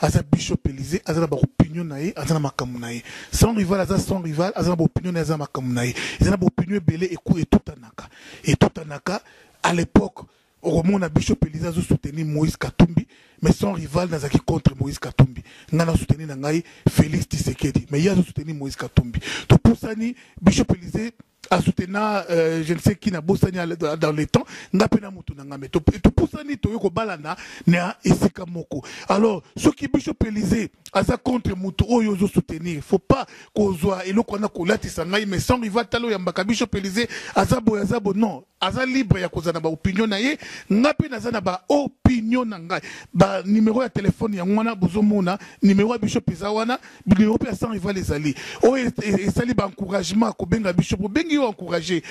aza bishop Elysee aza na ba opinion na ye aza na makambo na ye sans rival aza sans rival aza na ba opinion na ye aza na makambo na ye eza na ba opinion ebele eku etutanaka etutanaka à l'époque okomona bishop Elysee azo soutenir Moïse Katumbi mais sans rival nazalaki contre Moïse Katumbi ngai na soutenir na ngai Félix Tshisekedi mais ye azo soutenir Moïse Katumbi topusani bishop Elysee a soutena euh, je ne sais qui na bosani dans le temps nga pe na mutu na nga mais to pusani to yoko balana na esika moko alors ce qui bishop Elysée aza contre mutu oyo ozo soutenir faut pas kozwa eloko na kolatisa ngai mais sans rival talo ya mbaka bishop Elysée aza boy aza bo non Aza libre ya kozala na ba opinion na ye, nga pe naza na ba opinion na ngai. Ba numero ya telephone yango wana bozo mona, numero ya bishop eza wana, numero pe ya sans rival ezali. Oyo esali ba encouragement ko benga bishop, obengi yo encourager.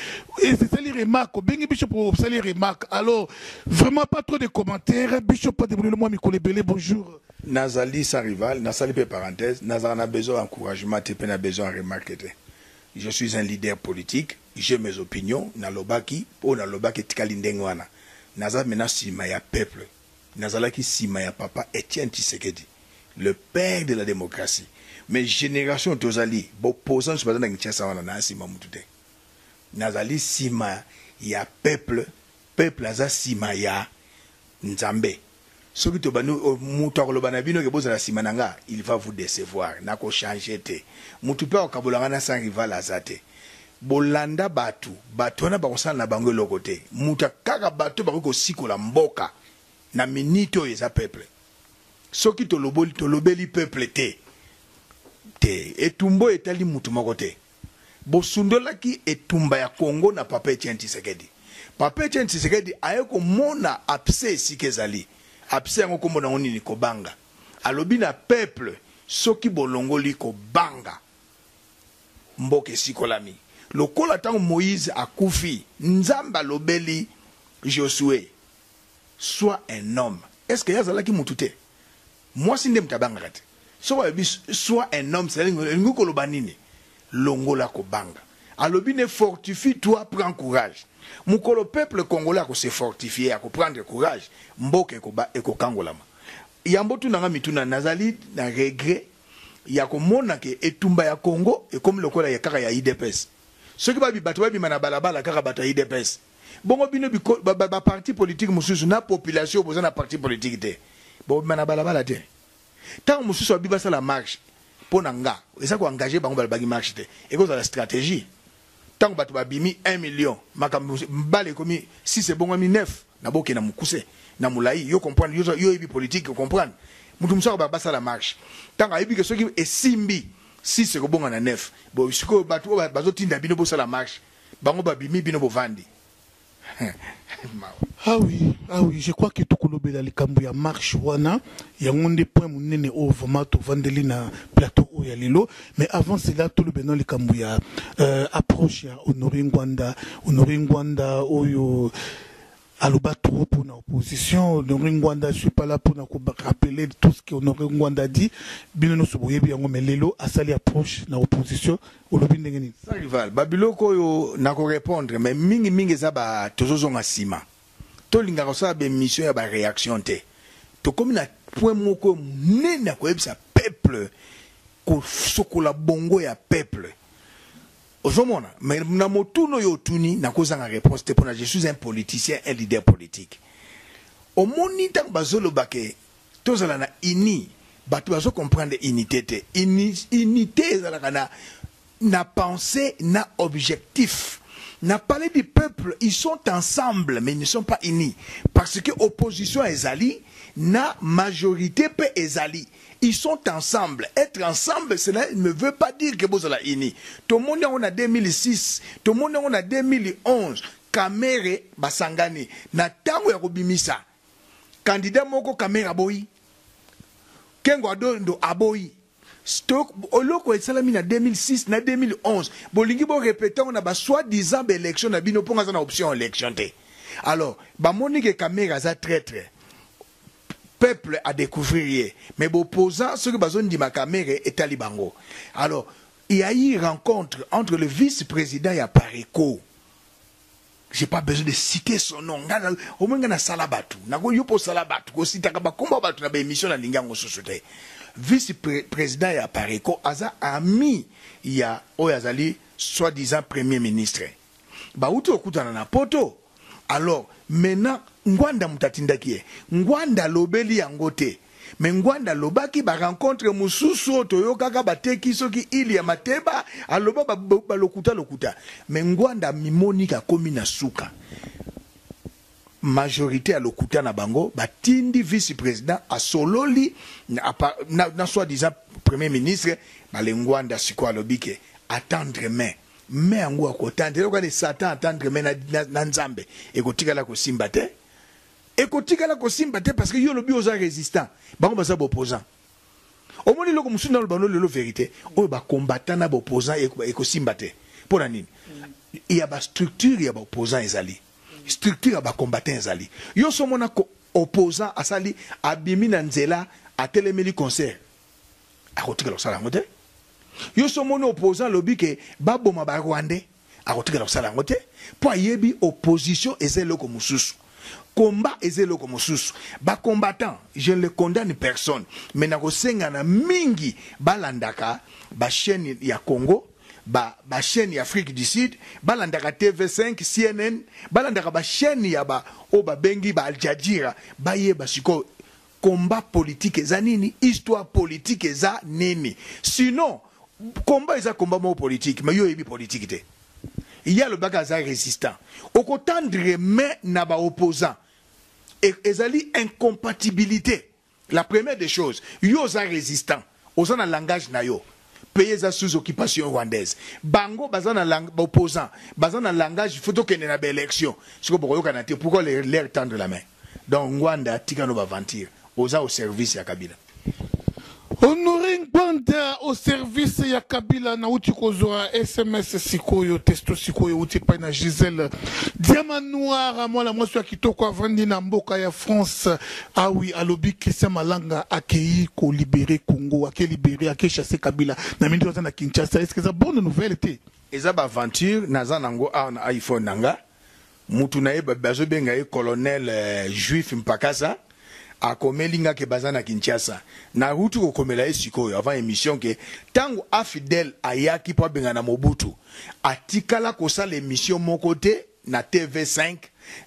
Esali remarque, obengi bishop osali remarque. Alors vraiment pas trop de commentaires, bishop pa debrouiller mwa mikolo ebele, bonjour. Nazali sans rival, nasali pe parenthèse, nazalaka na besoin ya encouragement te pe na besoin ya remarque te. Je suis un leader politique. J'ai mes opinions na lobaki oyo na lobaki etikali ndenge wana naza maintenant sima ya peuple nazalaki sima ya papa Etienne Tshisekedi le père de la democratie mais generation tozali b'opposants baza na Kinshasa wana naa sima mutu te nazali sima ya peuple peuple aza sima ya nzambe Soki tobandi mutu akoloba na bino ke bozala sima na nga il va vous decevoir nako changer te mutu pe akokabola nga na sans rival aza te bolanda batu batu wana bakosala na bango eloko te mutu kaka batu bakoki kosikola mboka na minute oyo eza peuple soki toloboli tolobeli peuple te te etumba oyo etali mutu moko te. Bosundolaki etumba ya Congo na Papa Etienne Tshisekedi. Papa Etienne Tshisekedi aye komona abcès esika ezali. Abcès yango kombo nango nini? Kobanga. Alobi na peuple soki bolongoli kobanga, mboka esikolami. Lokola tango Moïse akufi, Nzambe alobeli Josue, Sois un homme. Est-ce que ye azalaki mutu te? Mwasi nde moto abangaka te. Soki alobi sois un homme c'est à dire elingi koloba nini? Longola kobanga. Alobi nde fortifie toi prend courage. Mokolo peuple congolais ako se fortifier ako prendre courage mboka ekoba ekokangolama. Yambo otuna nga mituna nazali na regret ya komona ke etumba ya Congo ekomi lokola ya kaka ya udps. Soki ba bato babima na balabala kaka bato ya udps. Bongo bino biko, ba, ba, ba parti politique mosusu na population boza na parti politique te bobima na balabala te ntango mosusu abi basala marche mpo na nga eza ko engage bango balobaki marche te ekozala stratégie ntango bato babimi 1 million makambo mbala ekomi 6 ebongwami 9 na boke na mokuse na molai yo comprendre yo oyebi politique comprendre moto mosusu akoba basala marche ntango ayebi ke soki esimbi 6 ekobonga na 9 bo sikoyo bato oyo bazotinda bino bosala marche bango babimi bino bovandi Ah oui, ah oui, je crois que tokolobela likambo ya marche wana yango nde point munene oyo vraiment tovandeli na plateau oyo ya lelo mais avant cela tolobela na likambo ya euh, approche ya Honore Ngwanda Honore Ngwanda oyo Aloba trop pona opposition Honore Ngwanda je suis pas là pona ko rappeler tout ce que Honore Ngwanda a dit bino nionso boyebi yango mais lelo asali approche na opposition olobi ndenge nini? Sans rival ba biloko oyo nako repondre mais mingi mingi eza ba tozo zonga sima to lingaka kosala ba emission ya ba reaction te tokomi na point moko ya munene ya koyebisa peuple ko sokola bongo ya peuple Ozo mona? Mais na motuna oyo otuni nako zanga reponse te pona je suis un politicien un leader politique. Omoni tango bazo loba ke tozala na uni batu bazo comprendre unite te. Uni unite ezalaka na na pense na objectif. Na palais du peuple ils sont ensemble mais ils ne sont pas unis parce que opposition ezali na majorite pe ezali. Ils sont ensemble, etre ensemble cela ne veut pas dire que bozala unis, tomoni yango na 2006, tomoni yango na 2011, Kamerhe basangani na tango ya kobimisa candidat moko Kamerhe aboyi, Kengo Adondo aboyi, eloko esalami na 2006 na 2011 bolingi bo repeter yango na ba soit disant ba elections na bino mpo nga aza na option ya election te, alors bamoni que Kamerhe aza traitre. peuple a decouvrir ye mais b'opposants soki bazo ndima kamere etali bango alors il ya eu rencontre entre le vice president ya pareco j'ai pas besoin de citer son nom nga au moins nga na sala batu na ko yo po sala batu ko sitaka ba kombo batu na ba émission na linga ngo susu te vice pre président ya Pareco aza ami ya oyo azali soit disant premier ministre bawuti kokutana na poto alors maintenant ngwanda mutu atindaki ye ngwanda alobeli yango te mais ngwanda alobaki ba rencontre mususu oyo toyokaka bateki soki ile ya mateba aloba ba, ba, ba lokuta lokuta mais ngwanda amimoni akomi na suka majorité ya lokuta na bango batindi vice president asololi na, na, na soi disant premier ministre balengwanda sikoyo alobi ke attendre mai Mme yango akotanda, eloko wana Satan atandre mme na, na, na Nzambe, ekotikala kosimba te. Ekotikala kosimba te parce que yo olobi oza resistant, bango baza ba opposant. Omoni eloko mosusu na lobano lelo verite oyo ba combattant na ba opposant ekosimba te. Mpo na nini? Ya ba structure ya ba opposant ezali, structure ya ba combattant ezali. Yo somona ko opposant asali abimi na nzela atelemeli concert akotikala kosala yango te yo so omoni opposant alobi ke baboma ba rwandais akotikala kosala yango te mpo ayebi opposition eza eloko mosusu combat eza eloko mosusu bacombattant je ne le condamne personne mais nakosenga na mingi balandaka bachaîne ya congo ba ba chaîne ya Afrique du Sud balandaka TV5 CNN balandaka ba chaîne ya ba o babengi ba Al Jazeera baye ba siko Combat politique eza nini? Histoire politique eza nini? Sinon combat eza combat moko politique mais yo oyebi politique te. Ye alobaki aza resistant. Oko tendre main na ba opposants. E, ezali incompatibilite. La première des choses, yo oza resistant. Oza na langage na yo pays eza sous occupation rwandaise bango baza na lang ba opposants baza na langage il faut tokende na ba elections sikoyo bokoyokana te pourquoi leur, leur tendre la main donc Ngwanda tika no ba aventure oza au service ya Kabila Honore Ngbanda au service ya Kabila nauti kozwa sms sikoyo testo sikoyo euti epai na Gisèle Diama Noir mwana mwasi ya kitoko avandi na mboka ya France Ah oui alobi Christian malanga akeyi ko libere Congo ake libere ake chasse kabila na mini aza na Kinshasa est ce que eza bonne nouvelle te eza ba aventure naza nango awa na iphone na nga mutu na ye bazobenga ye colonel euh, juif mpakasa akomeli nga ke baza na kinshasa naruti kokomela ye sikoyo avant émission ke ntango afidele ayaki mpo abengana mobutu atikala kosala émission moko te na TV 5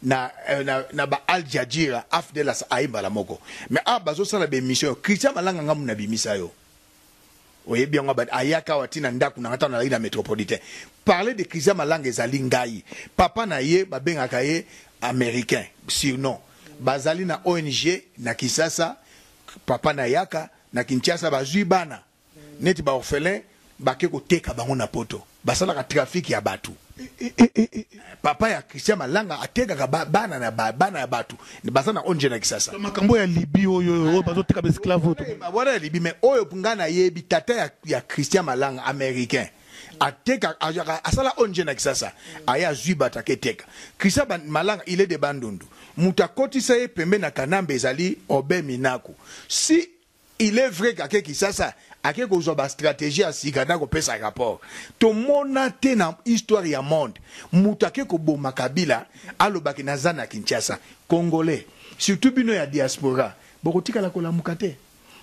na na, na ba Al Jazeera Afdelas aye mbala moko mais awa bazo sala ba emission Christian Malanga ngamu na bimisa yo oyebi yango abandi ayaka awa ti na ndako na nga ntango nalaki na metropolitain parler de Christian Malanga ezali ngai papa na ye babengaka ye américain surnom bazali na ONG na Kisasa papa na yaka na Kinshasa bazui bana neti ba orphelins bake koteka bango na poto basalaka trafic ya batu papa ya christian malanga atekaka ba- bana na ba- bana ya batu baza na onje na kisasa To makambo ya libi oyo oyo bazoteka ba esclave oyo Eh, ba- wana ya libi mais oyo nga nayebi tata ya, ya christian malanga américain ateka ayaka- asala onje na kisasa aye azwi bato aketeka christian Ban- malanga il est de bandundu moto akotisa ye pembe na kanambe ezali obe minaku si Il est vrai qu'ake Kisasa, ake kozwa ba strategies ya sika na kopesa rapport. Tomona te na histoire ya monde mutu ake koboma Kabila aloba ke naza na Kinshasa. Congolais, surtout bino ya diaspora, bokotikala kolamuka te.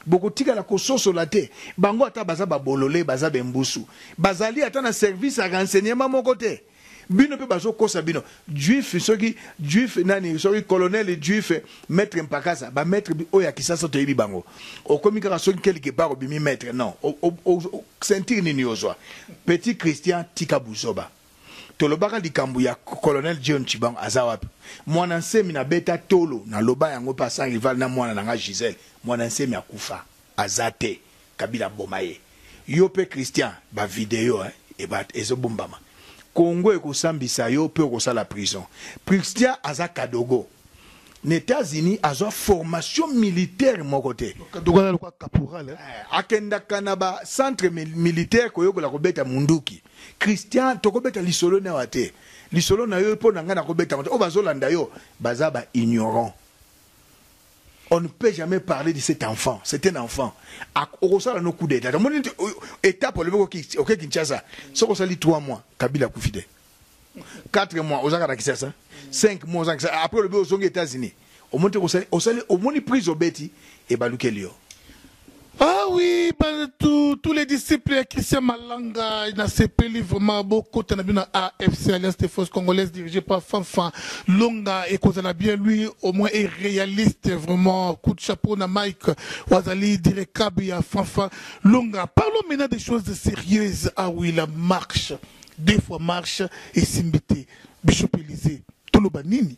Bokotikala kososola te. Bango ata baza ba bolole, baza b'embusu. Bazali ata na service ya renseignement moko te. Bino pe bazo kosa bino. Juif soki juif nani soki colonel juif maitre mpakasa ba maitre oyo ya kisasa toyebi bango okomi kaka soki quelque part obimi maitre non ceinture nini ozwa petit Christian tika buzoba tolobaka likambo ya colonel John Tshibangu aza wapi mwana nsemi na beta tolo na loba yango pe sans rival na mwana na nga Gisèle mwana nsemi akufa Aza te kabila aboma ye. Yo pe Christian ba video hein ezo bombama Congo ekosambisa yo pe okosala prison Christian aza kadogo na etats unis azua formation militaire moko te kadogo aza lokola caporal hein akendaka na ba centre militaire koyekola kobeta munduki Christian toko beta lisolo nayo te lisolo nayo po na nga nako betaka te oyo bazo landa yo baza ba ignorant on ne peut jamais parler de cet enfant c'est un enfant okosala no coup d'état omoni étape olobi oke kinshasa soki osali 3 mois kabila akufi te 4 mois ozaka na kinshasa 5 mois ozaka kinshasa après olobi ozongi états-unis omoni te osali omoni prise obeti ebalukeli yo Ah oui, ba, tout, tous les disciples ya Christian Malanga nasepeli vraiment bokota na bino na AFC Alliance des Forces Congolaises dirigée par Fanfan Longa ekozala bien lui au moins est réaliste vraiment coup de chapeau na Mike wazali direcable ya Fanfan Longa parlons maintenant des choses sérieuses ah oui la marche deux fois marche esimbite Bishop Elysée toloba nini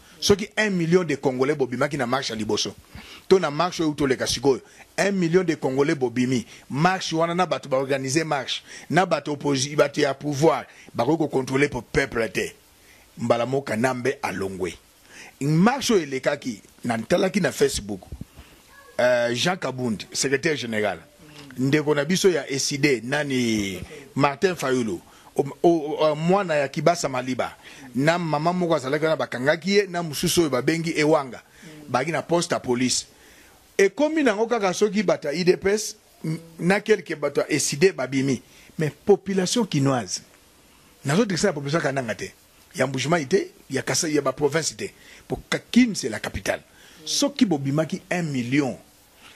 Soki un million de congolais bobimaki na marche ya liboso to na marche oyo toleka sikoyo un million de congolais bobimi marche wana na bato ba organiser marche na bato opposi bato ya pouvoir bakoki ko controler po peuple te mbala moko kanambe alongwe marche oyo elekaki na ntalaki na facebook euh, jean kabund secrétaire général ndeko na biso ya eside nani martin fayulu Mwana ya Kibasa Maliba na mama moko azalaki wana bakangaki ye na mosusu oyo babengi Ewanga baki na poste ya police ekomi nango kaka soki bato ya udps na quelque bato ya ecide babimi mais population kinoise nazodresse na population kananga te ya Mbujimayi te ya Kasai ya ba province te po Kin c'est la capitale soki bobimaki 1 million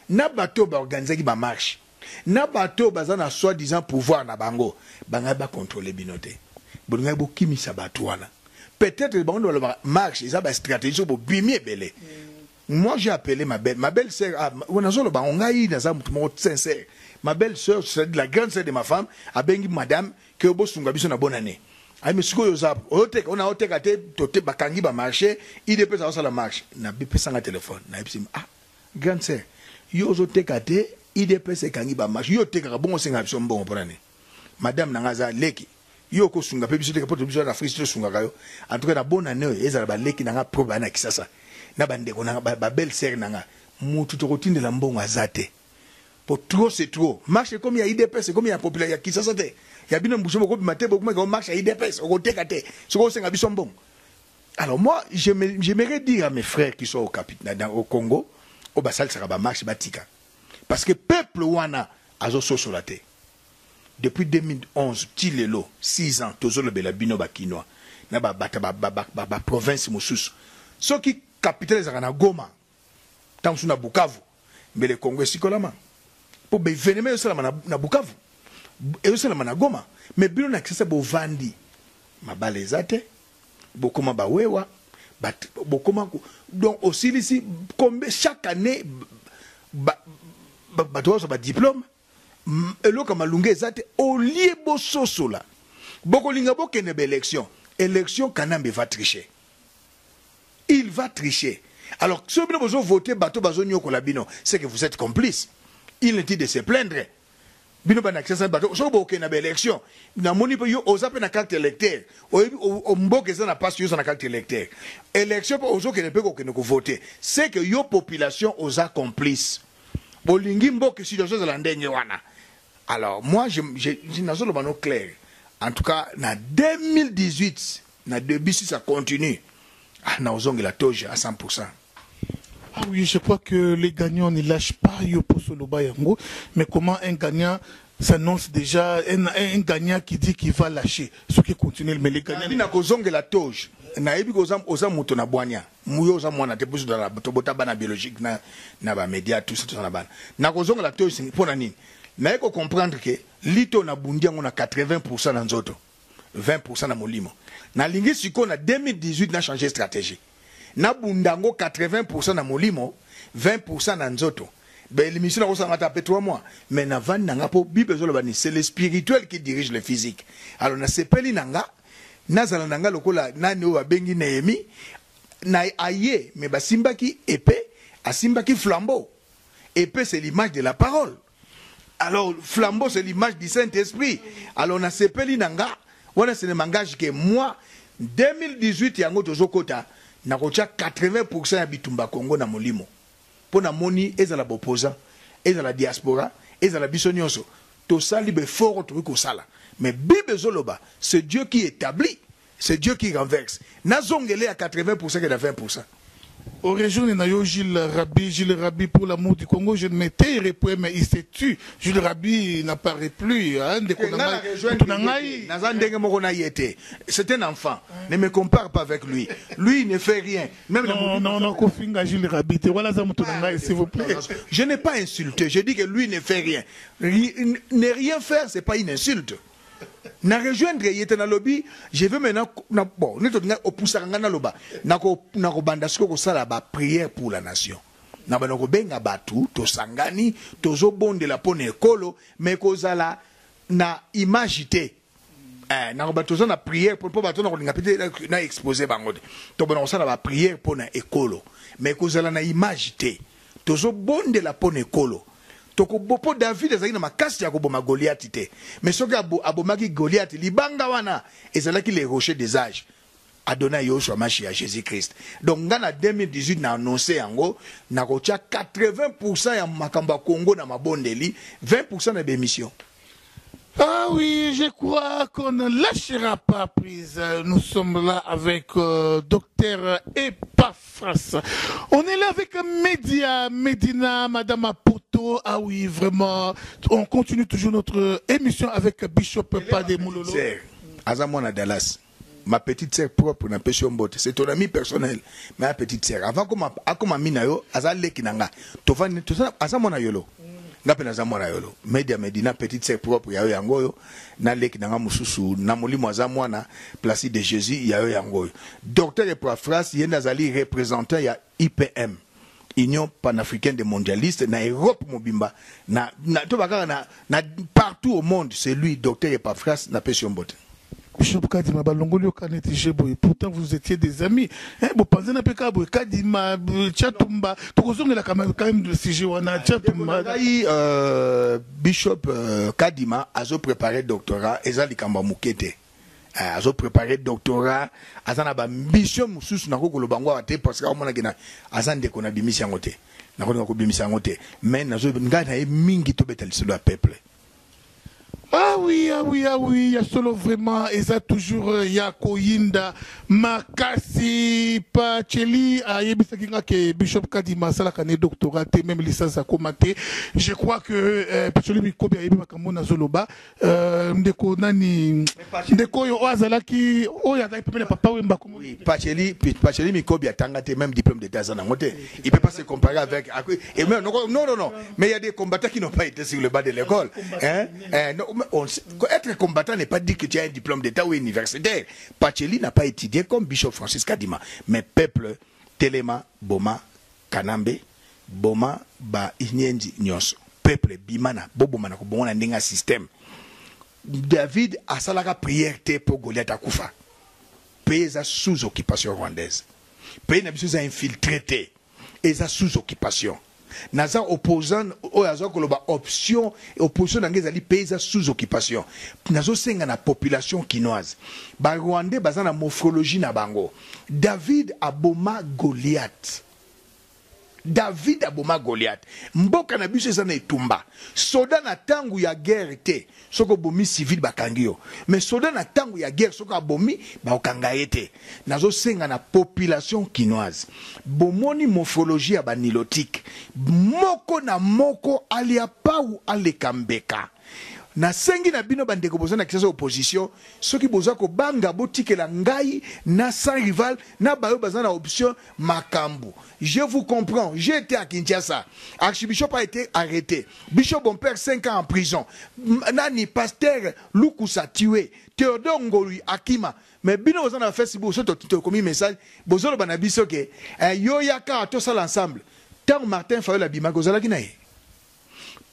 na bato baorganisaki ba marche na bato oyo baza na soit disant pouvoir na bango bangaki ba controler bino te bolingaki bokimisa bato wana peut etre bango nde balobaka marche eza ba strategie soki bobimi ebele moi j'ai appelé ma belle ma belle sœur ah, nazoloba yango ngai naza moto moko sincère ma belle sœur c'est la grande sœur de ma femme abengi madame que bosunga biso na bonne année ayi me sikoyo oza oyoteka ona oteka te tote bakangi bamarche idps azosala marche nabipesanga telefone nayebisi ah Grande sœur yo ozo teka te udps ekangi ba marche yo otekaka bongo osenga biso mbongo pona nini madame na nga aza leki yo oko sunga pe biso te poto biso na Afrique to sungaka yo en tout cas na bonne annee ezala ba leki na nga propre ba na kisasa na ba ndeko na nga ba belle sœur na nga mutu toko tindela mbongo aza te po trop c'est trop marche ekomi ya udps ekomi ya populaire ya kisasa te ya bino mbuso boko bima te boko meka o marche ya udps oko teka te soki osenga biso mbongo Alors moi j'aimerais dire à mes frères qui sont au, Capit, dans, au Congo oyo basalisaka bamarche batika parce que peuple wana azososola te depuis 2011 ti lelo 6 ans tozolobela bino bakinois na baprovince ba, ba, ba, ba, mosusu soki capitale ezalaka na goma Tango mosusu na Bukavu, mbele Congo esikolama. Po ba evenements ezosalama na, na Bukavu, ezosalama na Goma, mais bino na Kisasa bovandi. Mabala eza te, bokoma ba wewa, ba, bokoma ko, donc osilisi combien chaque année ba, ba, bato bazwa ba diplome eloko ya malunga eza te olie bososola bokolinga bokende ba election election kanambe va tricher il va tricher alors soki bino bozo vote bato bazonyokola bino c'est que vous êtes complice il ne dit de se plaindre bino bana kisasa bato soki bokokende na ba election namoni mpe yo oza mpe na carte électeur oyebi mboka eza na pasi yo oza na carte électeur election mpe ozokende mpe kokende kovote c'est que yo population oza complice bolingi mboka situation ezala ndenge wana alors moi je, je, je nazoloba no clair en tout cas na 2018 na début si ça continue ah, naozongela toge à 100 Ah oui, je crois que les gagnants ne lâchent pas Yopo Soloba Yango. Mais comment un gagnant s'annonce déjà, un, un gagnant qui dit qu'il va lâcher, ce qui continue, mais les gagnants. Nabi na kozongela toge, nayebi kozam oza moto na boignard. Hum yo oza mwana te pusu dala tobota bana biologique na na ba media tout ça toza na bana na kozonga la toyo singi pona nini na eko comprendre que lito na bundi yango na 80% na nzoto 20% na molimo na lingi siko na 2018 na changer stratégie na bunda yango 80% na molimo 20% na nzoto ben l'émission na kosanga ta pe 3 mois mais na vandi na nga po bible ezoloba ni c'est le spirituel qui dirige le physique alors na sepeli na nga Nazala na ngai lokola nani oyo babengi Nehemie, na, aye, mais basimbaki epee, asimbaki flambeau. Epee c'est l'image de la parole. Alors, flambeau c'est l'image du Saint-Esprit. Alors, nasepeli na nga, wana ce ne m'engage que moi, 2018 yango tozokota, nakotia 80% ya bitumba Congo na molimo. po na moni ezala ba opposants ezala diaspora ezala biso nionso tosali ba efforts oyo tokoki kosala mais bible ezo loba ce Dieu qui etablit ce Dieu qui renverse na zongele ya 80 pourcent ke na 20 pourcent. Origine na yo Jules Rabi Jules Rabi pour l'amour du Congo je ne me tairai point mais il se tue Jules Rabi na parait plus hein ndeko na ngai mutu na ngai naza ndenge moko na ye te c'est un enfant ne me compare pas avec lui lui il ne fait rien Même non, non, non, non, Kofinga Jules Rabi, te voilà ça me tourne ah, s'il vous plaît. Je n'ai pas insulté, je dis que lui ne fait rien. Ne rien faire, c'est pas une insulte. na rejoindre ye te nalobi je veux maintenant na, bon neti olinga opusaka ngai naloba nakobanda siko kosala baprière pour la nation na banda kobenga bato tosangani tozobondela mpo na ekolo me kozala na image te eh, nako bato toza na prière mpo bato na kolinga pete na expose bango te tobona kosala ba prière mpo na ekolo me ekozala na image te tozobondela mpo na ekolo tokobo mpo david azalaki na makasi ya koboma goliati te me soki abomaki goliati libanga wana ezalaki le rocher des âges Adonai Yoshua Mashiach Jesus Christ. Donc nga na 2018 na annonce yango na kotia 80% ya makambo ya Congo na mabondeli, 20% na bemission. Ah oui, je crois qu'on ne lâchera pas prise. Nous sommes là avec euh, docteur Epaphras. On est là avec Média, Medina, Madame Apoto. Ah oui, vraiment. On continue toujours notre émission avec Bishop Pade Moulolo. Aza mwana Dallas. Ma petite sœur propre na pesi yo mbote c'est ton ami personnel mais a petite sœur avant akoma akoma ami na yo aza leki na nga tovandi toza aza mwana yolo nga pe naza mwana yolo media medina petite sœur propre ya yo yango oyo na leki na nga mosusu na molimo aza mwana placide de Jésus ya yo yango oyo docteur Eprafras ye nde azali représentant ya IPM union panafricaine de mondialiste na europe mobimba na, na to bakaka na, na partout au monde c'est lui docteur epafras na pesi mbote bishop kadima balongoli yo kaneti je boye pourtant vous étiez des amis eh, bopanzana mpe kaka boye kadima chatumba tokozongelaka quand même de sujet wana chatumba ngai euh, bishop euh, kadima azo préparer doctorat eza likambo ya moke te Eh, azo prepare doctorat aza na bambition mosusu nakoki koloba yango awa te parce que aomonaki na aza ndeko na bimisi yango te nakolinga kobimisa yango te mais nazo ngai na ye mingi tobeta lisolo ya peuple Ah oui, ah oui, ah oui, ya solo vraiment eza toujours euh, ya koyinda makasi pacheli ayebisaki nga ke bishop kadima asalaka ne doctorat te meme licence akoma te je crois que euh, pacheli mikobi ayebi makambo nazoloba Euh, ndeko nani ndeko oyo oyo azalaki oyo azalaki pembe na papa wemba oui, pacheli pacheli mikobi atanga te même diplôme d'état aza nango te il peut pas se comparer avec et même non non non mais il y a des combattants qui n'ont pas été sur le banc de l'école hein eh, non, on, être combattant n'est pas dit que tu as un diplôme d'état ou universitaire pacheli n'a pas étudié comme bishop Francis Kadima mais peuple Telema Boma Kanambe boma ba inyenzi nionso. Peuple bimana boboma na kobongo na ndenge ya système. David asalaka prière te po Goliath akufa. Pays eza sous occupation rwandaise. Pays na biso eza infiltre te. Eza sous occupation. Naza opposant oyo aza koloba option opposition na ngai ezali pays eza sous occupation. Nazosenga na population kinoise ba rwandais baza na morphologie na bango. David aboma Goliat David aboma Goliat mboka na biso eza na etumba soda na tango ya guerre te soki obomi civil bakangi yo mais soda na tango ya guerre soki abomi bakokanga ye te nazo senga na population kinoise bomoni mofologie ya ba nilotique moko na moko alia pawu aleka mbeka. Nasengi na bino bandeko boza na Kinshasa opposition, soki boza kobanga botikela ngai na sans rival na bayo baza na option makambu. Je vous comprends, j'ai ete à Kinshasa, archibishop a ete arrete, bishop Bompere 5 ans en prison, nani pasteur Lukusa tue, Theodore Ngolui akima, mais bino boza na Facebook so tokomi message bozoloba na biso ke eh, yo yaka tosala ensemble. Tango Martin Fayol abimaki ozalaki na ye?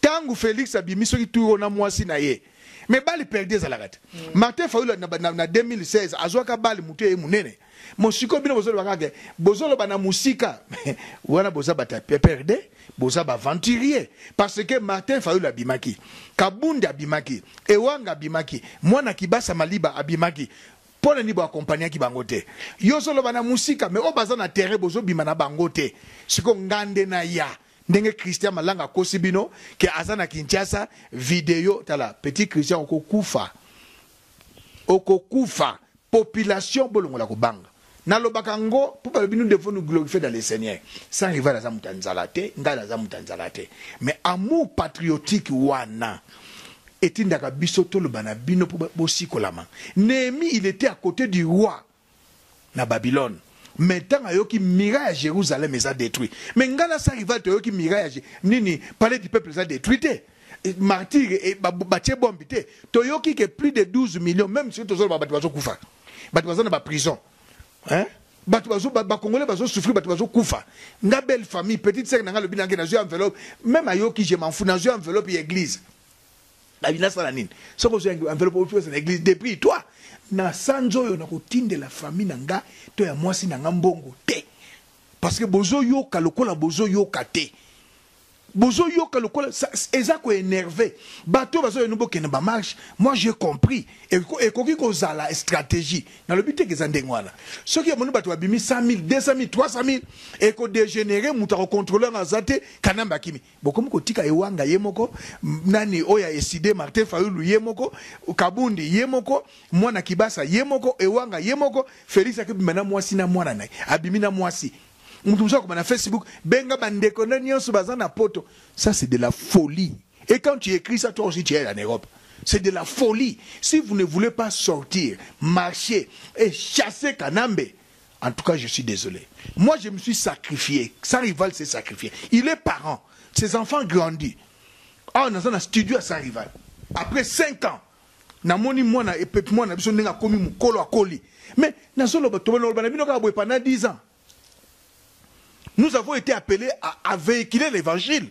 tangu Felix abimi soki tuyo na mwasi na ye mais bali perdu ezalaka te mm. Martin Fayulu na, na, na 2016 azwaka bali moto ye munene mosiko bino bozoloba kaka bozoloba na musika wana boza bata perde boza baventurier parce que Martin Fayulu abimaki Kabundi abimaki Ewanga abimaki mwana Kibasa Maliba abimaki mpo na nini boakompagnaki bango te yo ozoloba na mosika me oyo baza na terrain bozobima na bango te siko ngande na ya Ndenge Christian malanga akosi bino ke aza na Kinshasa video tala petit Christian oko kufa oko kufa population bolongola kobanga nalobaka ngo mpo balobi nous devons nous glorifier dans le Seigneur sans rival aza moto ya nzala te ngai naza moto ya nzala te mais amour patriotique wana etindaka biso toloba na bino mpo bosikolama Nehemie il était à côté du roi na babylone mais tango ayoki mira ya Jerusalem eza detruit mais nga na sa rival toyoki mira ya nini palais du peuple eza detruit te martyr batie bombe te toyoki ke plus de 12 millions meme soki tozoloba bato bazokufa bato baza na baprison hein bato bazo bakongole bazo souffrir bato bazo kufa nga belle famille petite sœur na nga lobi na ngai nazwi enveloppe meme ayoki je m'en fous nazwi enveloppe ya église David nasala nini soki ozwi enveloppe opesa na eglise depuis toi na sanza oyo nakotindela famille na nga to ya mwasi na nga mbongo te parce que bozoyoka lokola bozoyoka te bozoyoka lokola eza koenerve bato oyo bazoya no bokende bamarche moi j'ai compris ekoki kozala stratégie nalobi teke eza ndenge wana soki yamoni bato babimi 100 000 200 000 300 000 ekodégénéré moto akocontrole yango aza te kanambe akimi Bokomi kotika ewanga ye moko nani oyo ya ecide Martin fayulu ye moko kabundi ye moko mwana kibasa ye moko ewanga ye moko Felix akebima na mwasi na mwana naye abimi na mwasi mutu mosusu akoma na Facebook benga ba ndeko na nionso baza na poto ça c'est de la folie et quand tu ecris ça toi aussi tu es en Europe c'est de la folie si vous ne voulez pas sortir marcher et chasser kanambe En tout cas je suis desole moi je me suis sacrifier sans rival s'est sacrifier il est parent ses enfants grandit awa naza na studio ya sans rival après 5 ans namoni mwana epepi mwana na biso ndenge akomi mokolo akoli mais nazoloba tobaloba na bino kaka boye pendant 10 ans nous avons été appelés à, à véhiculer l'évangile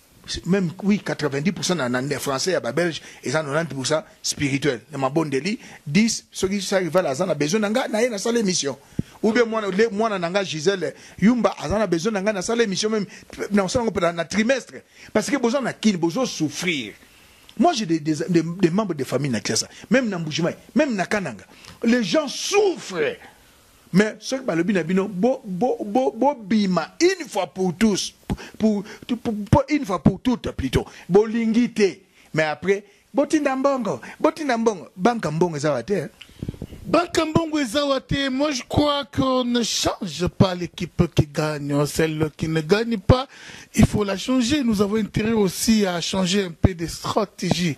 meme oui 90 pourcent na, na français ya ba belge eza 90 pourcent spirituel na mabondeli 10 soki sa rival aza na besoin na nga na ye na sala émission ou bien mwana le mwana na nga Gisèle Yumba aza na besoin na nga na sala émission meme na sala ngo na trimestre parce que boza na kin bozo souffrir moi j'ai des, des, des, des membres de famille na Kinshasa même na Mbujimayi même na Kananga les gens souffrent Mais soki balobi na bino bo bo bo bobima une fois pour tous pour pour une fois pour toutes plutot bolingi te mais après botinda mbongo botinda mbongo banka mbongo eza wa te hein? Banka mbongo eza wa te moi je crois qu'on ne change pas l'équipe qui gagne celle qui ne gagne pas il faut la changer nous avons intérêt aussi à changer un peu de stratégie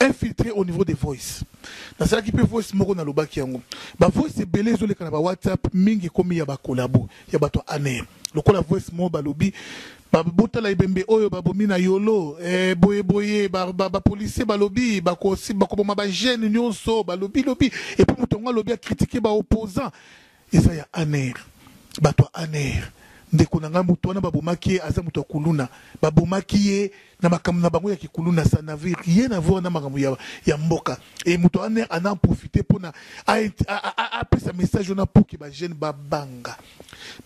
infiltre au niveau des voice nasalaki mpe voice moko nalobaki yango ba voice ebele ezoleka na ba whatsapp mingi ekomi ya bakolabo ya bato ya ane lokola voice moko balobi botala ebembe oyo babomi na yolo eh, boye boye bapolisier ba, ba balobi bakoboma bagene nyonso balobi lobi epuis moto yango alobi akritike baopposant Eza ya Aner batu ya Aner ndeko na ngai mutu wana ba bomaki ye aza mutu ya kuluna ba bomaki ye na makambo na bango ya ki kuluna ça n'avait rien à voir na makambo ya, ya mboka et mutu ya Aner ana en profiter pona a, a, a, a, a pesa message wana pour que ba jeunes ba banga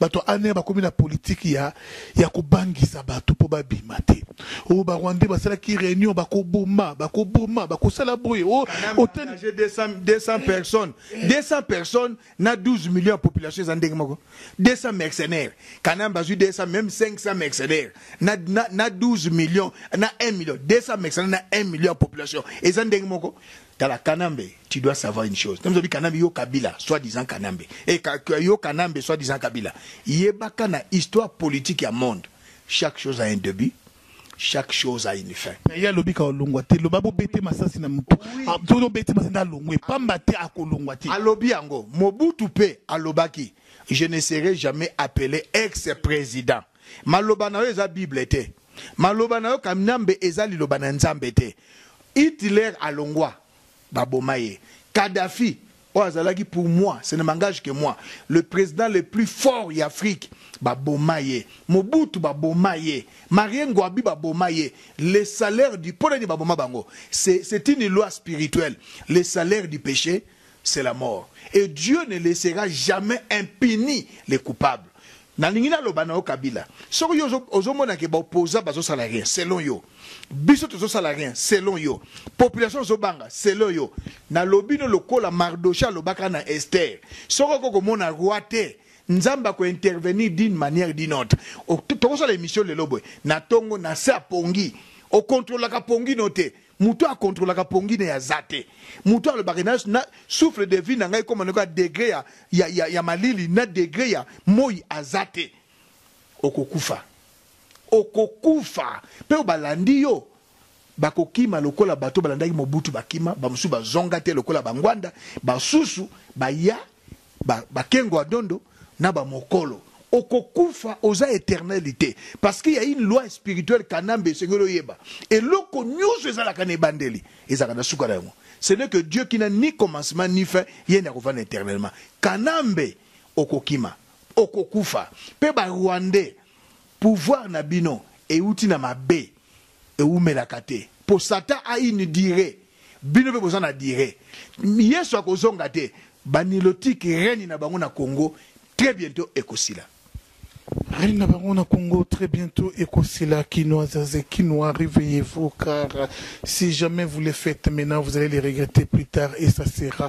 batu ya Aner bakomi na politique ya ya kobangisa batu po babima te o oh, ba Rwandais basalaki réunion bakoboma bakoboma bakosala boye o oh, otani 200 200 personnes 200 personnes na 12 millions ya population eza ndenge moko 200 mercenaires kanambe azwi 200 meme 500 mercenaires na, na, na 12 millions na 1 million 200 mercenaires na 1 million ya population eza ndenge moko tala kanambe tu dois savoir une chose ntango kanambe yo kabila soit disant kanambe e ka, yo kanambe soit disant kabila yebaka na histoire politique ya monde chaque chose a un début chaque chose a une fin mais ya lobika olongwa te loba bobete masasi na motu ah, soki obeti masasi nde alongwe pamba te akolongwa te alobi yango mobutu mpe alobaki je ne serai jamais appelé ex président maloba na yo eza bible te maloba na yo kamnambe eza liloba na nzambe te hitler alongwa Ba boma ye. Kadhafi oyo azalaki pour moi ce ne m'engage que moi le president le plus fort ya Afrique ba boma ye. Mobutu ba boma ye. Marie Ngouabi ba boma ye. Le salaire du pona nini ba boma bango? C'est c'est une loi spirituelle. Le salaire du peche c'est la mort et Dieu ne laissera jamais impuni les coupables. Nalingi naloba na yo Kabila, soki yo ozo mona ke ba opposants bazo sala rien selon yo, biso tozo sala rien selon yo, population ezo banga selon yo, nalobi no lokola Mardochee alobaka na Esther, soki oko komona roi te, Nzambe ako intervenir d'une manière d'une autre. Toko sala emission lelo boye na tongo na se ya pongi, o controlaka pongi no te, Moto oyo a controlaka pongi na ye aza te. Moto oyo alobaka na, na souffle de vie na ngai ekoma ndeko ya degre ya, ya, ya, ya malili na degre ya moi aza te. Okokufa, okokufa. Mpe oyo balandi yo bakokima lokola bato balandaki Mobutu bakima, bamosusu bazonga te lokola Bangwanda, basusu baya. ba ba kengo ya dondo na ba mokolo okokufa oza eternel te parce que ya une loi spirituelle kanambe esengeli oyeba eloko nyoso ezalaka na ebandeli ezalaka na suka na yango ce n'est que Dieu qui n'a ni commencement ni fin ye nde akovanda éternellement kanambe okokima okokufa pe ba rwandais pouvoir na bino euti na mabe Ewumelaka te po Satan a une duree, bino pe boza na duree. Yesu akozonga te, ba nilotiques règne na bango na Congo très bientot ekosila. Règne na bango na Congo très bientot ekosila, kinoisas et kinois reveillez vous car si jamais vous le faites maintenant vous allez le regretter plus tard et ça sera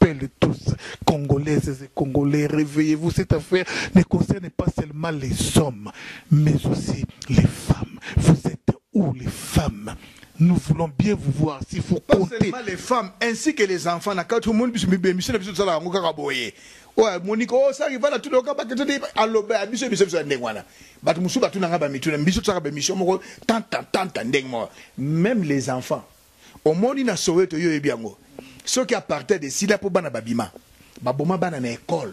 appelle tous congolaises et congolais reveillez vous cette affaire ne concerne pas seulement les hommes mais aussi les femmes vous êtes où les femmes nous voulons bien vous voir si vous pas comptez seulement les femmes ainsi que les enfants na kati omoni biso bibemisio na biso tosalaka yango kaka boye oyo amoniki o saki vana tuloka bakete te aloba ya biso biso biso ya ndenge wana bato mosusu batunanga bamituna biso tosaka bemisio moko tanta tanta ndenge moko même les enfants Omoni na soweto yo oyebi yango soki apartheid esila po bana babima baboma bana na ecole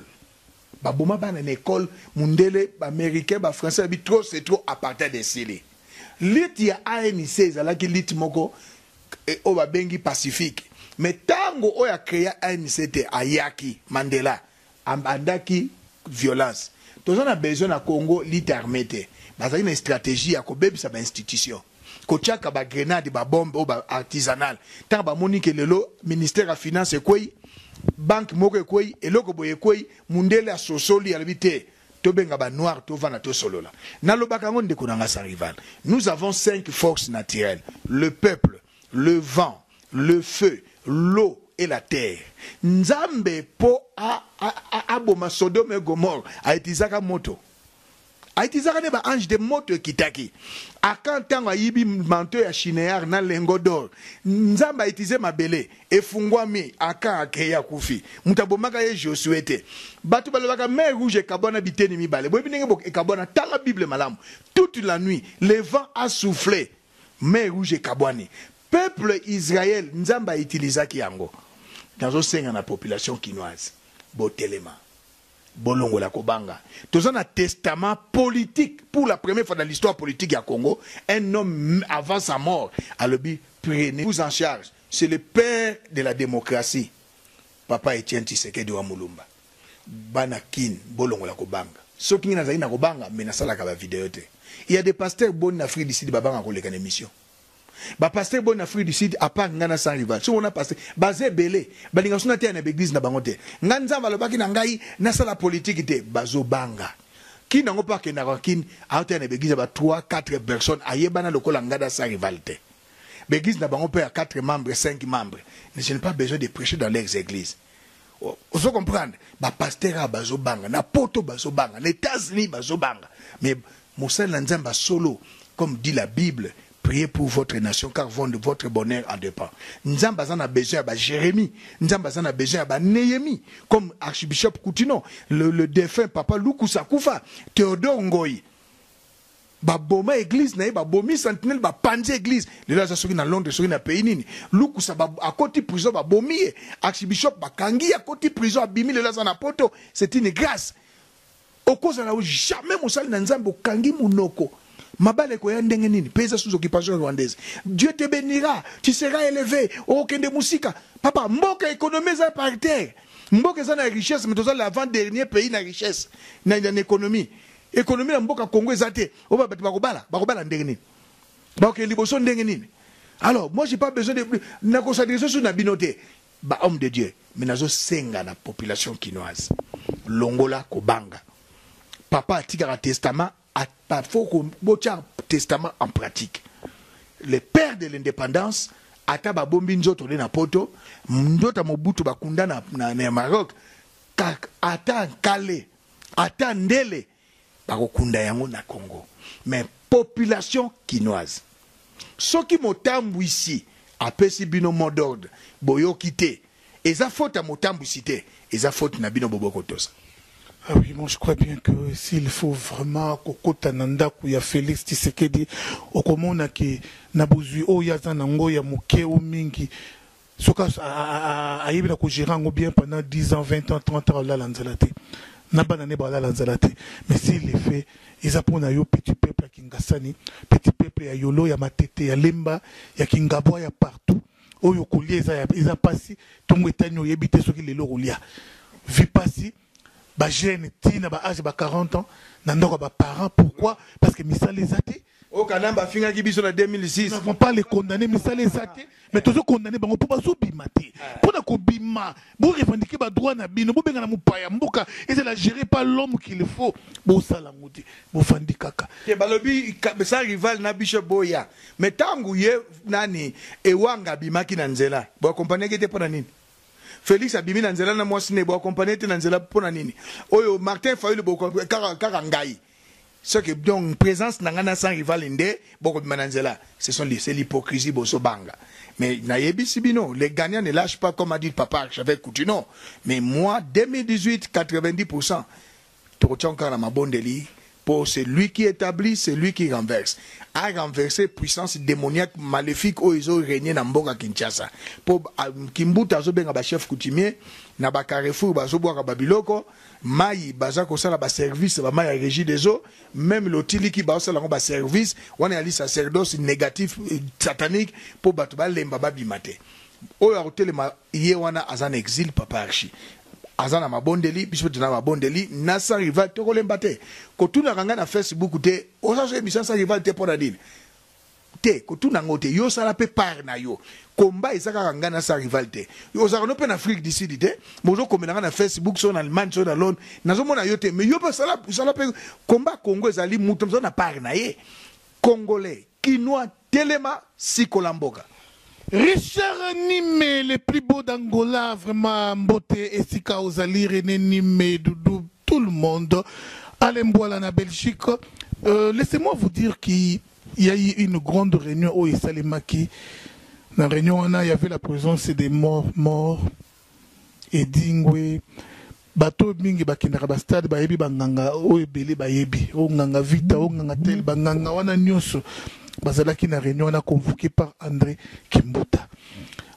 baboma bana na ecole mundele ba americain ba français babi trop c'est trop apartheid esili lutte ya ANC ezalaki lutte moko oyo babengi pacifique mais tango oyo a crea ANC te ayaki mandela Abandaki violence. Toza na besoin na Congo lite arme te. Bazali na estrategie ya kobebisa ba institutions. Kotiaka ba grenades, ba bombes oyo ba artisanales. Tango bamoni que lelo ministère ya finance ekweyi, banque moko ekweyi, eloko boye ekweyi, mundele asosoli alobi te, tobenga ba noirs tovanda tosolola. Nalobaka yango ndeko na ngai sans rival. Nous avons cinq forces naturelles, le peuple, le vent, Le feu, l'eau et la terre nzambe po aboma sodome et gomore a utilizaka moto a utilizaka nde ba ange te moto ekitaki akan tango ayibi manto ya shinear na lengo dor nzambe a utilize mabele efungwami akan akei akufi moto abomaka ye josue te bato balobaka mer rouge ekabwana biteni mibale boyebi ndenge ekabwana tala bible malamu toute la nuit le vent a souffle mer rouge ekabwani Peuple Israël nzambe a utilisaki yango nazo senga na population kinoise botelema bolongola kobanga toza na testament politique pour la première fois dans l'histoire politique ya Congo un homme avant sa mort alobi prenez vous en charge c'est le père de la democratie papa Etienne Tshisekedi wa Mulumba bana kin bolongola kobanga soki ngai nazali na kobanga mais nasalaka ba video te il ya des pasteurs boni na Afrique du Sud babanga koleka na emission Ba pasteur boni na afrique du sud a part nga na sans rival soki ona pasteur baza ebele balinga suna teya na ba eglise na bango te nga nzambe alobaki na ngai na sala politique te bazo banga kin yango pa kenda kwa kin a teya na ba eglise ba 3 4 personnes ayebana lokola nga da sans rival te ba eglise na bango pe ya 4 membres 5 membres ne je ne pas besoin de prêcher dans leurs eglises Ozo comprendre? Ba pasteurs awa bazo banga, na poto bazo banga, na Etats Unis bazo banga, mais mosali na Nzambe ya solo comme dit la Bible, priez pour votre nation car votre bonheur en depend. Nzambe aza na besoin ya ba Jeremie, Nzambe aza na besoin ya ba Nehemie comme Archbishop Kutino, le, le defunt Papa Lukusa akufa, Theodore Ngoyi, Ba boma eglise naye ba bomi sentinelle ba panzi eglise lelo aza soki na Londres soki na pays nini lukusa ba akoti prison ba bomi ye archibishop ba kangi ye akoti prison abimi lelo aza na poto c'est une grace okozala jamais mosali na nzambe okangi munoko mabala ekoya ndenge nini pays eza sous occupation rwandaise Dieu te benira tu seras eleve okende musika papa mboka economie eza par terre mboka eza na richesse mais toza l'avant dernier pays na richesse na, na economie Economie ya mboka Congo eza te. Oba batu bakobala, bakobala ndenge nini? Baoke liboso ndenge nini? Alors, moi j'ai pas besoin de na ko s'adresser sur na bino te. Ba homme de Dieu, mais nazo senga na population kinoise. Longola kobanga. Papa atikaka testament, à faut ko bocha testament en pratique. Le père de l'indépendance ata babombi nzoto nde na poto ndoto ya mobutu bakunda na, na, na maroc ata nkale Ata ndele bakokunda yango na Congo mais population kinoise soki motambwisi apesi bino mot d'ordre boyoki te eza faute ya motambwisi te eza faute na bino bobo kotosa. Ah oui, moi je crois bien que s'il faut vraiment kokota na ndaku ya Felix Tshisekedi, okomona ke na bozwi oyo aza na ngo ya moke ou mingi, soki ayebi na ko gerer yango bien pendant 10 ans 20 ans 30 ans olala nzala te na bana ne balala nzala te mais si le fait eza mpo na yo petit peuple ya kingasani petit peuple ya yolo ya matete ya lemba ya kingabwa ya partout oyo kolia eza, eza mpasi ntongo etani oyebi te soki lelo okolia vi mpasi bagene ti na baage ba 40 ans na ndako ya baparent pourquoi parce que misala eza te Oyo kanambe afingaki biso na 2006. Nous n'avons pas les condamner misala eza te mais tozo condamner bango po bazo bima te pona ko bima bo revendiquer ba droit na bino bo benga na mupaya mboka ezala gere pas l'homme qu'il faut bo sala ngo te bo fandi kaka te balobi sa rival na biso boya mais tangu ye nani ewanga bimaki na nzela bo accompagner ki te pona nini Felix abimi na nzela na mwasi ne bo accompagner te na nzela pona nini oyo Martin Fayulu bo kaka kaka ngai Ce que donc presence na nga na sans rival nde boko bima na nzela ce sont c'est l'hypocrisie boso banga mais na yebisi bino les gagnants ne lâchent pas comme a dit papa archevêque Coutinho mais moi 2018 90% toko tia encore na mabondeli pour celui qui établit, celui qui renverse. A renversé puissance démoniaque, maléfique, où ils ont régné dans Mboka Kinshasa. Pour Kimbuta, Zobenga, chef coutumier, Naba Carrefour, Zoboaka Babiloko, mayi baza kosala ba service ba mayi ya regie des eaux meme lotiliki ba sala ngo ba service wana yali sacerdos negatif satanique po bato ba lemba ba bima te oyo akotelema ye wana aza na exil papa archi aza na mabondeli biso tuna mabondeli na sans rival toko lemba te kotuna kanga na facebook te oza so ebisa sans rival te pona nini te kotuna ngo te yo sala pe part na yo combat eza kaka nga na sa rival te yo ozaka no pe na Afrique du Sud te bozo komela nga na Facebook so na Allemagne so na Londres nazo mona yo te mais yo pe sala sala pe combat Congo ezali mutu na part na ye congolais kinois telema sikola mboka Richard nime le plus beau d'angola vraiment mbote esika ozali rene nime doudou tout le monde alain mbuala na belgique euh, laissez moi vous dire qui y a eu une grande réunion oyo esalemaki na réunion wana y avait la présence des morts morts Edingwe bato oyo mingi bakendaka ba stade bayebi ba nganga oyo ebele bayebi oyo nganga vita oyo nganga tel ba nganga wana nionso bazalaki na reunion wana convoque par Andre kimbuta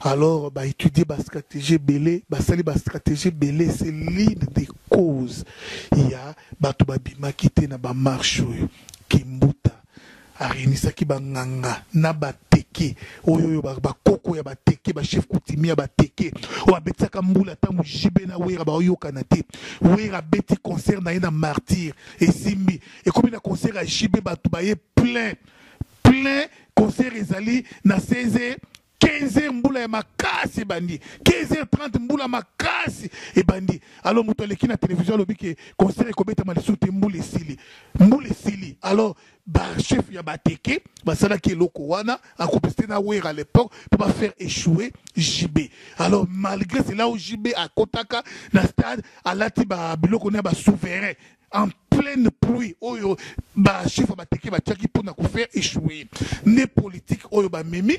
alors ba etudier ba strategie ebele basali ba strategie ebele c'est l'une des causes ya bato babimaki te na ba marche oyo kimbuta A reunisaki ba nganga na ba teke oyo oyo ba koko ya ba teke ba chef coutumier ya ba teke oyo ba betisaka mbula tango JB na Werra ba oyokana te Werra abeti concert na ye na martyr esimbi ekomi na concert ya JB batu baye plein plein concert ezali na 16 15 heures mbula ya makasi ebandi 15 heures 30 mbula makasi ebandi alors moto aleki na télévision alobi ke concert ekobetama lisusu te mbula esili mbula esili alors bachef ya bateke basalaki eloko wana akopesite na wer à l'époque mpo bafaire échouer jb alors malgré cela o jb akotaka na stade alati biloko na ya basouverain en pleine pluie oyo ba chiffre bateke batiaki mpona kofaire échouer nde politique oyo bamemi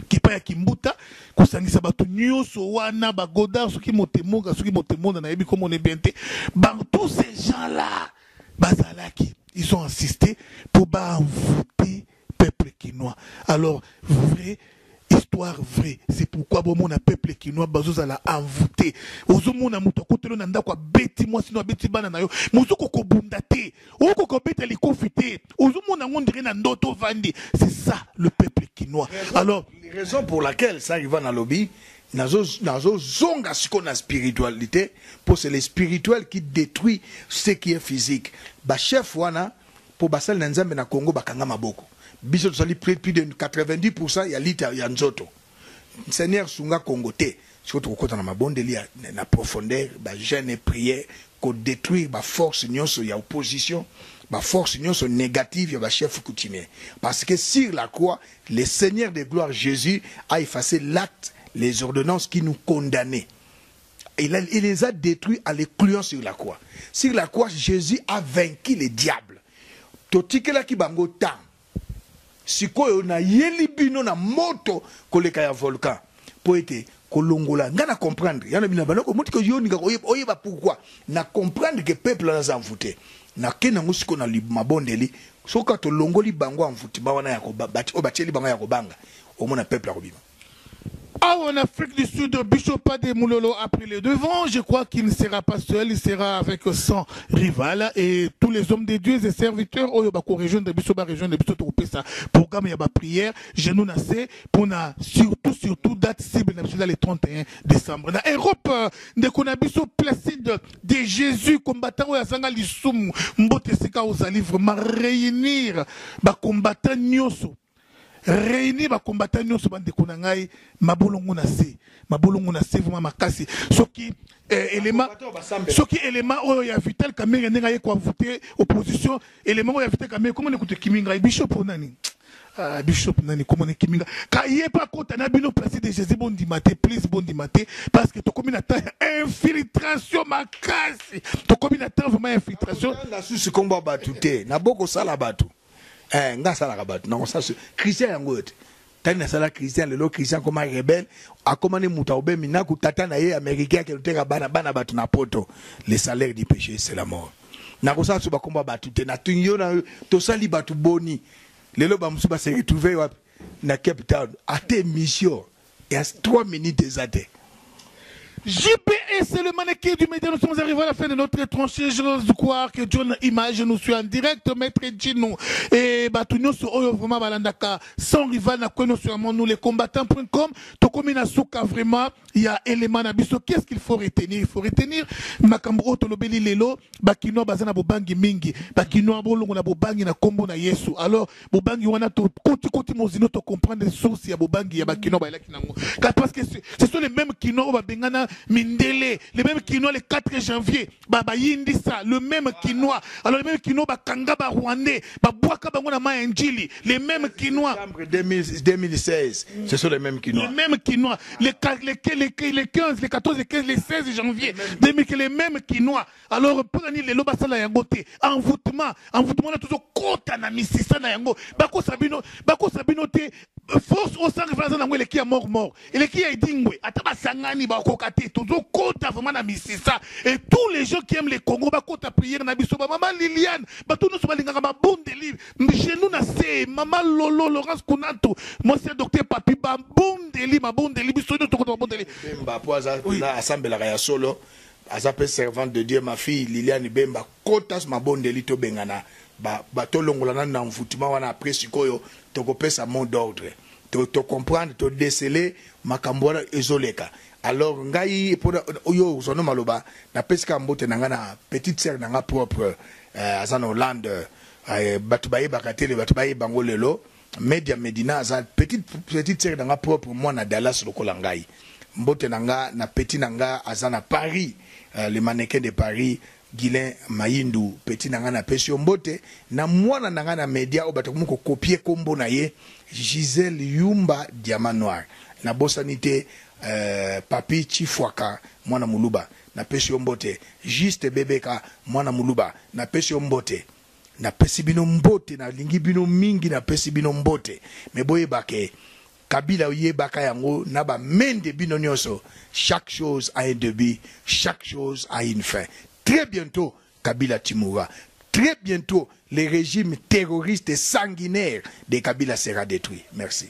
kipa ya kimbuta kosangisa bato nyonso wana bagodard soki motemoga soki motemonda nayebi komona bien te bango tous ces gens là bazalaki ils ont insisté mpo baenvoute peuple kinois alors vrai histoire vrai c'est pourquoi bomona peuple kinois bazozala envoûté ozomona moto akotelo na ndako abeti mwasi no abeti bana na yo mozoka kobunda te oyoka kobeta likofi te ozomona yango ndire na ndoto ovandi c'est ça le peuple kinois alors raison pour laquelle ça ivan alobi nazozonga sikoyo na spiritualité mpo c'est le spirituel qui détruit ce qui est physique bachef wana Po basali na nzambe na congo bakanga maboko biso tosali plus de 90 pourcent ya lutte ya nzoto seigneur sunga congo te sikoyo tokokota na mabondeli ya na profondeur ba jeune et prière ko detruire ba force nionso ya opposition ba force nionso negative ya ba chef coutumier parce que sur la croix le seigneur de gloire jesus a efface l'acte les ordonnances qui nous condamne Il a, il les a detruits en les clouant sur la croix. Sur la croix, Jésus a vaincu le diable. Totikelaki bango temps. Sikoyo na yeli bino na moto koleka ya volcan. Po ete kolongola nga na comprendre. Yana bina bana ko moti ko yoni nga oyeba pourquoi. Na comprendre que peuple na za envoûté. Na ken nango siko na mabondeli. Soka to longoli bango envoûtement wana ya ko bati o batieli bango ya ko banga. Omona peuple akobima. Awa en Afrique du Sud, Bishop Pade Moulolo a pris le devant. Je crois qu'il ne sera pas seul, il sera avec son rival et tous les hommes de Dieu et serviteurs. Oyo bako rejoindre biso ba rejoindre biso to pesa programme ya ba prière. Je nous na se pour na surtout surtout date cible na biso le 31 décembre. Na Europe euh, ndeko na biso Placide de Jésus combattant oyo azanga lisumu mbote sika ozali vraiment réunir ba combattants nyoso reunir ba combattants nyonso bandeko na ngai mabolongo na se mabolongo na se vraiment makasi soki eh, elema soki elema oyo ya vital kamenge ndenge aye koavoute opposition elema oyo ya vital kamenge komo nekutu ekimi ngai bishop mpo nani Uh, bishop nani komona ekimi nga kaye mpe akota na bino place de jésus bondima te please bondima te parce que tokomi na temps ya infiltration makasi tokomi na temps vraiment ya infiltration nasusi nkombo ya bato te nabokosala bato eh nga salaka bato na conscience christian yango oyo te tani nasala christian lelo christian akoma rebele akoma ne moto aobe minaku tata na ye américain akende koteka bana bana bato na poto le salaire du péché c'est la mort nakosala so bakomba bato te natuni yo na tosali bato boni lelo bamosusu baseretrouve wapi na cape town ata émission Ya trois minutes eza te. JP et c'est le mannequin du média. Nous sommes arrivés à la fin de notre tranchée. J'ose croire que John Image nous suit en direct. Maître Gino et Batunyo sur Oyo vraiment Balandaka. Sans rival, na quoi nous sommes nous les combattants.com. Tokomi na souka vraiment. Il y a élément na biso. Qu'est-ce qu'il faut retenir? Il faut retenir. Makambo oto lobeli lelo. Bakinois bazana bobangi mingi. Bakinois bolongo na bobangi na kombo na Yesu. Alors, bobangi wana tokoti koti mozindo to comprendre source ya bobangi ya bakinois bayelaki nango parce que ce sont les mêmes kinois oyo babengana mindele les mêmes kinois le 4 janvier bayindisa le même kinois alors le même kinois bakanga barwandais babwaka bango na mai ya njili le même kinois 2016 ce sont les mêmes kinois le même kinois le, le, le, le 15 le 14 le 15 le 16 janvier 2000 le même kinois Alors mpo na nini lelo basala yango te? Envoûtement, envoûtement wana tozokota na misisa na yango. Bakosa bino, bakosa bino te. Force oyo San Rival aza na yango eleki ya mort mort, eleki ya Edingwe. Ata basangani bakoka te, tozokota vraiment na misisa. Et tous les gens qui aiment le Congo bakota prière na biso. Ba maman Liliane, bato nyonso balingaka mabondeli. Chez nous na se, maman Lolo, Laurence Kunantu, mwasi ya docteur Papi, babondeli, mabondeli, biso nyonso tokota mabondeli. Bemba mpo aza Oui. na asambelaka ya solo Aza pe servante de Dieu ma fille Liliane Bemba kota mabondeli tobengana ba tolongola nanu na envoutement wana après sikoyo toko pesa mot d'ordre to comprendre to decele makambu wana ezo leka alors ngai pona yo ozua no maloba na pesi kaka mbote na ngai na petite sœur na ngai propre aza na Hollande batu bayebaka te batu bayebi bango lelo Media Medina aza petite petite sœur na nga propre mwana Dallas lokola ngai mbote na nga na petit na nga aza na Paris le mannequin de Paris Guylain Mayindu petit na nga na pesi yo mbote na mwana na nga na media oyo bato bakomi ko copier kombo na ye Gisèle Yumba Diamant Noir na bosani te Papy Tshifuaka mwana muluba na pesi yo mbote Juste Bebeka mwana muluba na pesi yo mbote. Napesi bino mbote na lingi bino mingi na pesi bino mbote me boyeba ke kabila oyebaka yango na ba mende bino nionso chaque chose a un debut chaque chose a une fin très bientot kabila tu mourras très bientot le regime terroriste sanguinaire de kabila sera detruit merci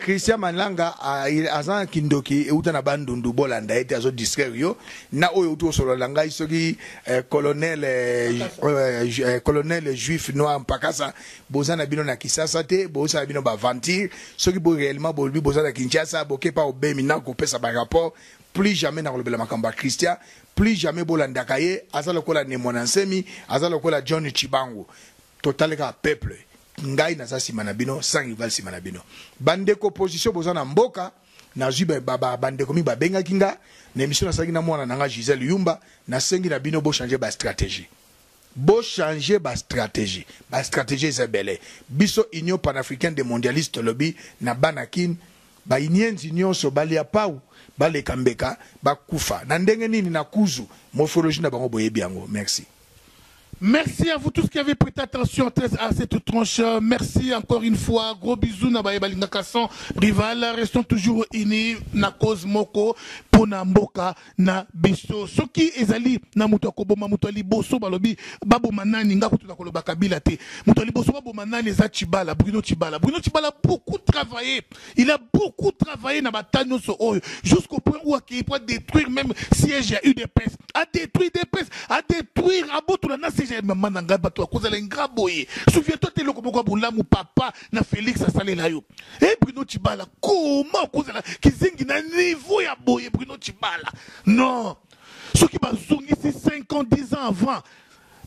Christian Malanga aza kindoki euta na bandundu bolanda ye te azo distraire yo na oyo outi kosolola na ngai soki eh, colonel eh, eh, eh, colonel juif noir mpakasa boza na bino na kisasa te bosala bino baventure soki bo réellement bolobi boza na kinshasa bokepa obemi na kopesa barapport plus jamais nakolobela makambo ya christian plus jamais bolandaka ye aza lokola nemona nsemi aza lokola john chibangu totaleka peuple Ngai naza sima na bino sans rival sima na bino. Ba ndeko opposition boza na mboka nazwi ba ba ba ndeko mingi babengaki nga na emission nasalaki na mwana na nga Gisèle Yumba nasengi na bino bo changer ba stratégie bo changer ba stratégie ba stratégie eza ebele biso union panafricaine des mondialistes tolobi na bana kin ba inienzi nyonso balia pau baleka mbeka bakufa na ndenge nini na kuzu morphologie na bango boyebi yango merci Merci à vous tous qui avez prêté attention très à cette tranche. Merci encore une fois. Gros bisous na baye balingaka sans rival. Restons toujours unis na cause moko mpo na mboka na biso. Soki ezali na moto akoboma moto ya liboso balobi baboma nani nga kutu nakoloba Kabila te. Moto ya liboso baboma nani eza Chibala, Bruno Chibala. Bruno Chibala beaucoup travailler Il a beaucoup travaillé na batanyo so oyo jusqu'au point où akei pour détruire même siège ya UDPS. A détruire UDPS, a détruire abotola na siège ya maman na ngai bato akozala ingra boye. Souviens-toi te loko moko bolamu papa na Félix asalela yo. Eh Bruno Chibala, comment okozala kizengi na niveau ya boye Bruno Chibala? Non. Soki bazongisi 5 ans 10 ans avant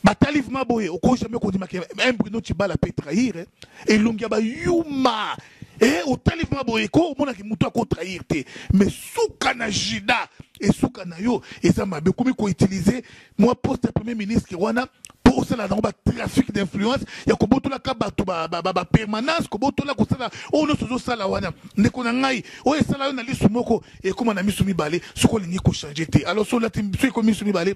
Ba talif ma boye oko jamais kondima ke un Bruno Chibala peut trahir eh. elongi ya ba yuma eh au talif ma boye ko mona ki mutu ako trahir te mais suka na jida et suka na yo eza mabe komi ko utiliser moi poste ya premier ministre wana po osala nango ba trafic d'influence ya kobotola ka bato ba, ba, ba, ba permanence kobotola kosala oyo nyonso ozosala wana ndeko na ngai oyo esala yo na lisu moko ekoma na misu mibale soki olingi kochange te alors so olati so ekomi misu mibale